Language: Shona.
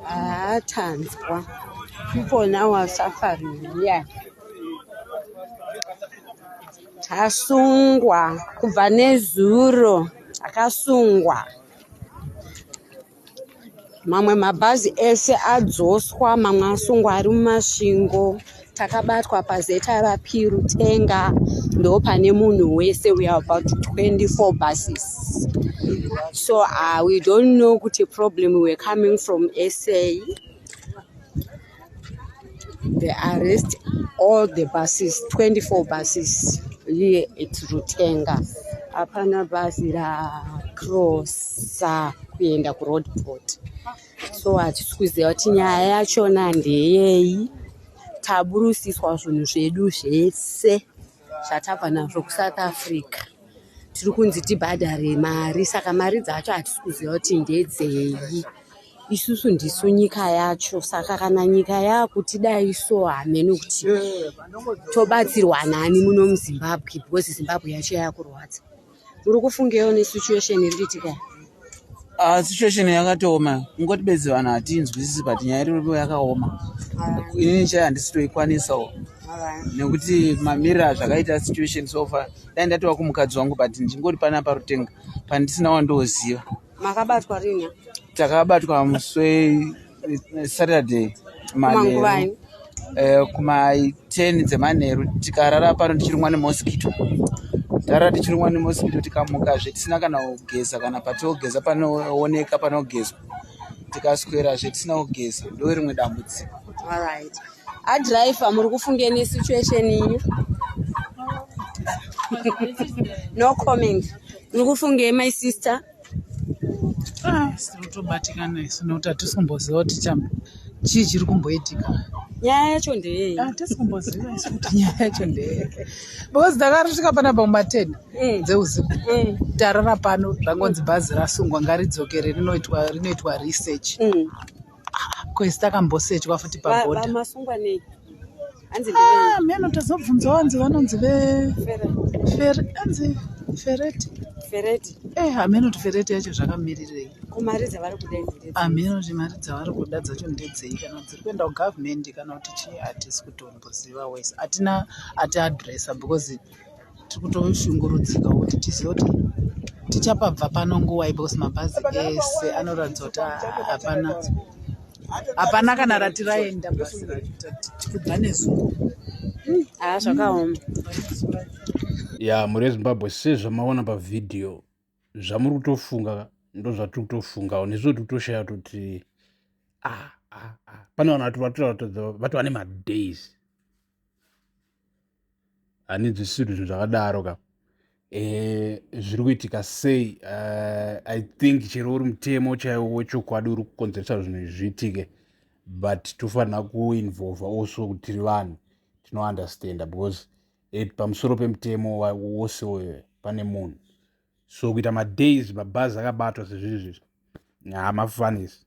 haa tanzwa people now are suffering here tasungwa kubva nezuro akasungwa mamwe mabhazi ese adzoswa mamwe asungwa ari mumasvingo takabatwa paZRP Rutenga ndopane munhu wese we are about 24 buses so uh, we don't know kuti problem were coming from sa the arrest all the buses 24 buses here at Rutenga hapana bhazi rakrosa kuenda kuroadport so hatisi kuziva kuti nyaya yachona ndeyei taburusiswa zvinhu zvedu zvese zvatabva nazvo kusouth africa tiri kunzi tibhadhare mari saka mari dzacho hatisi kuziva kuti ndedzei isusu ndisu nyika yacho saka kana nyika yaakutidai so hamene kuti tobatsirwa nani muno muzimbabwe because zimbabwe yacho yakurwadza uri kufungewo nesituation iri kuitika ah, situation yakatooma kungoti bedzi vanhu hatiinzwisisi but nyaya iripo yakaoma ah. inini chai handisi toikwanisawo ah. nekuti mamirira zvakaita situation sofa dai ndatova kumukadzi wangu but ndingori pana parutenga pandisina wandoziva makabatwa rini takabatwa muswei saturday manheru eh, kumaiten dzemanheru tikarara pano tichirumwa nemosquito tarara tichirumwa nemosquito tikamukazve tisina kana kugeza kana patiogeza panooneka panogezwa tikaswerazve tisina kugeza ndo rimwe dambudziko alright adriver muri kufunge nesituation inyu no comment muri kufunge my sister Ah, sinotobatikana isu nekuti hatisi kumboziva kuti chamba chii chiri kumboitika nyaya yacho ndeyei hatisi ah, kumboziva isu kuti nyaya yacho ndeyei because ndakarisvika panapa kumaten mm. dzeusiku mm. tarara pano zvangonzi bhazi rasungwa ngaridzokere rinoitwa research mm. kwese takambosetwa futi paboda masungwa nei hanzi ah, meno tazobvunzawo hanzi vanonzi veanzi fereti fereti eh hameno kuti fereti yacho zvakamirirei kumari dzavari kuda hameno kuti mari dzavari kuda dzacho ndedzei kana dziri kuenda kugovernment kana kuti chii hatisi kutomboziva wese hatina ati adressa because tiri kutoshungurudzika kuti tizive kuti tichapabva pano nguvai because mabhazi ese anoratidza kuti hapana hapana kana rati raenda bhazi racho tikudza nezuva haa ah, zvakaoma ya mhuri yezimbabwe sezvamaona pavhidhiyo zvamuri kutofunga ndozvatiri kutofungawo nezvo tiri kutoshaya kuti ah, ah, ah. pane vanhu vati vatira vatova ne madays handinzwisisi kuti zvinhu zvakadaro ka eh, zviri kuitika sei eh, i think chero uri mutemo chaiwo wechokwadi uri kukonzeresa zvinhu izvi zviitike but tofanira kuinvolva also kuti tiri vanhu tinounderstanda because eh, pamusoro pemutemo wose uyo pane munhu so kuita madays mabhazi akabatwa sezviri zvizvi hamafanisi